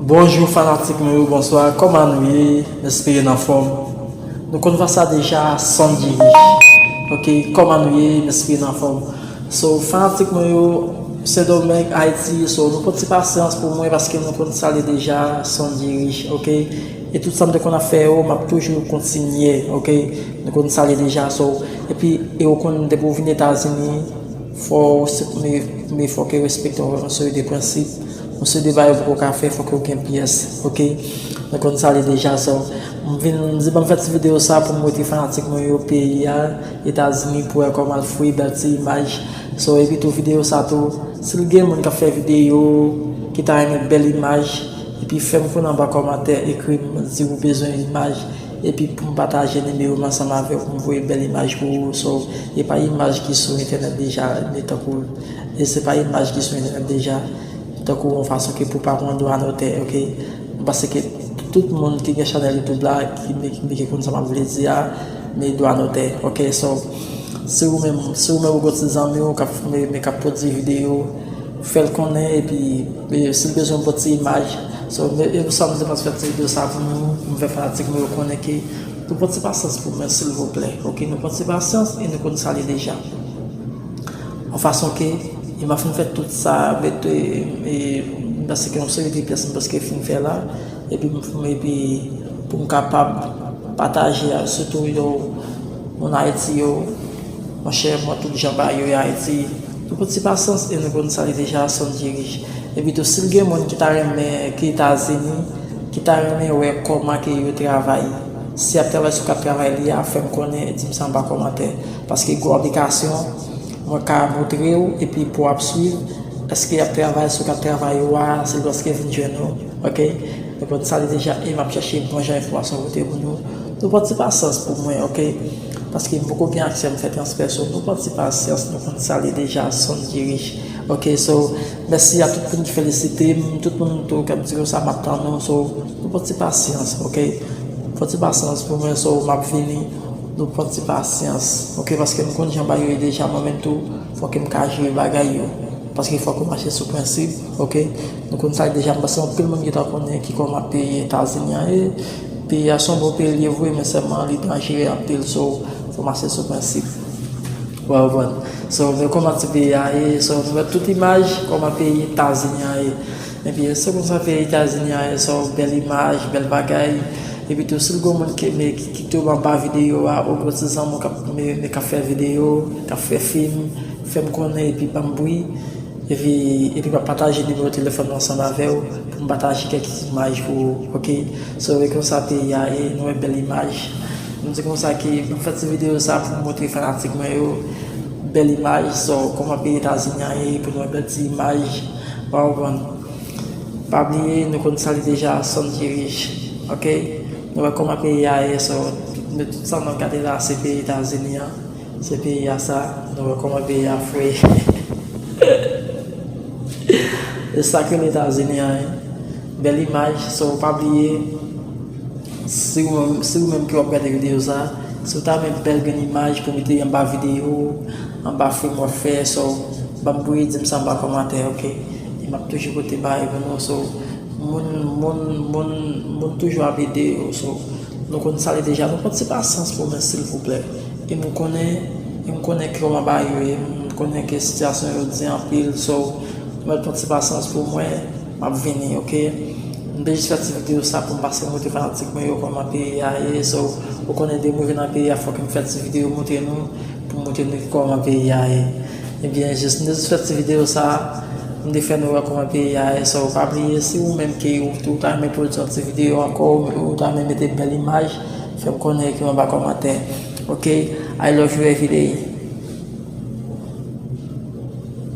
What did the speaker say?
Bonjou fanatik mwen yo bonswa kòman nou ye m espere n anfòm nou konn fè sa deja san diri ok kòman nou ye m espere n anfòm so fanatik mwen yo sendomeng ayiti so nou pran ti pasyans pou mwen paske nou konn sa li deja san diri ok e tout sa m te konn ap fè yo m ap toujou kontinye ok nou konn sa li deja so epi e ou konn depi ou vin etazini fò w se premye fò ke yo respekte w avèk yon seri de prensip Yon seri de bagay ou poko ka fè fòk yo gen pyès ok mwen konn sa li deja so m vin m di banm fè ti video sa poum wete fanatik mwen yo peyi a etazini pou wè koman l fre bèl ti imaj so epi tou video sa tou sil gen moun kap fè video ki ta renmen bèl imaj epi fèm konnen anba kòmantè ekrim di ou bezwen imaj epi poum pataje nimewo m ansanm avèw poum voye bèl imaj pou ou so epa imaj ki sou entènèt deja ni tankou E se pa imaj ki sou entènèt deja, tankou yon fason ke pou pa pran dwa dotè ok. Mwen panse ke tout moun ki gen chanèl youtube la ki gen konn sa map vle di a, me dwa dotè ok. So, si ou menm, si ou menm ou gon ti zanmi ou kap fime men kap pwodui video, fèl konnen epi si l bezwen yon bon ti imaj, so e pou sa mwen te panse fè ti video sa pou nou, pou mwen fè fanatik mwen yo konnen ke nou pran ti pasyans pou mwen silvouplè ok. Nou pran ti pasyans e nou konn sa li deja. Yon fason ke e m ap fin fè tout sa avèk paske yon seri de pyès m prèske fin fè la epi epi pou m kapab pataje a sitou yo moun Ayiti yo monchè mwen tout jan ba yo Ayiti nou konn se pa sans e nou konn sa li deja sonn dirij epi tou si l gen moun ki ta renmen ki Etazini ki ta renmen wè kòman ke yo travay. Si yap travay sou kat travay li a fèm konnen dim san pa kòmantè paske gwo aplikasyon mwen ka moutrew epi pouw ap swiv eske yap travay sou kat travay ou a se lòske vin jwenn ou ok nou konn sa li deja e map chache bon jan enfòmasyon pote pou nou nou pran ti pasyans pou mwen ok paske mpoko gen aksè mfè transfè so nou pran ti pasyans nou konn sa li deja sonn dirij ok so mèsi a tout moun ki felisitem tout moun tou kap di nou sa map tann nou so. Nou pran ti pasyans ok. Pran ti pasyans pou mwen so map vini nou pran ti pasyans ok paske m konn jan bagay yo ye deja mwen menm tou fòk m ka jere bagay yo paske fòk ou mache sou prensip ok nou konn sa deja m panse anpil moun gentan konnen ki kòman peyi etazini an ye peyi a son bon peyi li ye vre men sèlman li danjere anpil so fòk mache sou prensip wè ou konprann so nou wè kòman ti peyi a ye so nou wè tout imaj kòman peyi etazini an ye. Epi se konsa ke etazini a esa w bèl imaj bèl bagay epi tou sil gon moun ki me ki kite w anba video a ou gon ti zanmi w kap me kap fè video kap fè fim fèm konnen epi banm bri epi epi map pataje nimewo telefòn mwen ansanm avèw pou m pataje kèk imaj pou ou ok so e konsa peyi a ye nou wè bèl imaj m di konsa ke m fè ti video sa pou m montre fanatik mwen yo bèl imaj so koman peyi etazini a ye pou nou wè bèl ti imaj. Wa konprann. Pa bliye nou konn sa li deja son ki rich ok nou wè koman peyi a ye so nou tout sa nap gade la se peyi etazini an se peyi a sa nou wè koman peyi a fre se sak rele etazini an wi bèl imaj so pa bliye Si ou menm ki wap gade video sa, si ou ta renmen bèl grenn imaj pou mete anba video, anba film wap fè so, banm bri dim sa anba kòmantè ok. E map toujou pote bagay pou nou so, moun moun moun moun toujou ap ede yo so, nou konn sa li deja nou konn se pa sans pwomès silvouplè. E m konnen, e m konnen kòman bagay yo ye, m konnen ke sitiyasyon yo di anpil so, mwen konn se pa sans pou mwen. Map vini ok. M te jis fè ti video sa poum pase moute fanatik mwen yo kòman peyi a ye so ou konnen depim rive nan peyi a fòk m fè ti video moute nou poum moute nou ki kòman peyi a ye ebyen jis m te jis fè ti video sa poum te fè nou wè kòman peyi a ye so ou pa bliye si ou menm ke ou tou ta renmen pwodui yon ti video ankò ou ta renmen mete bèl imaj fèm konnen ekrim anba kòmantè ok I love you everyday.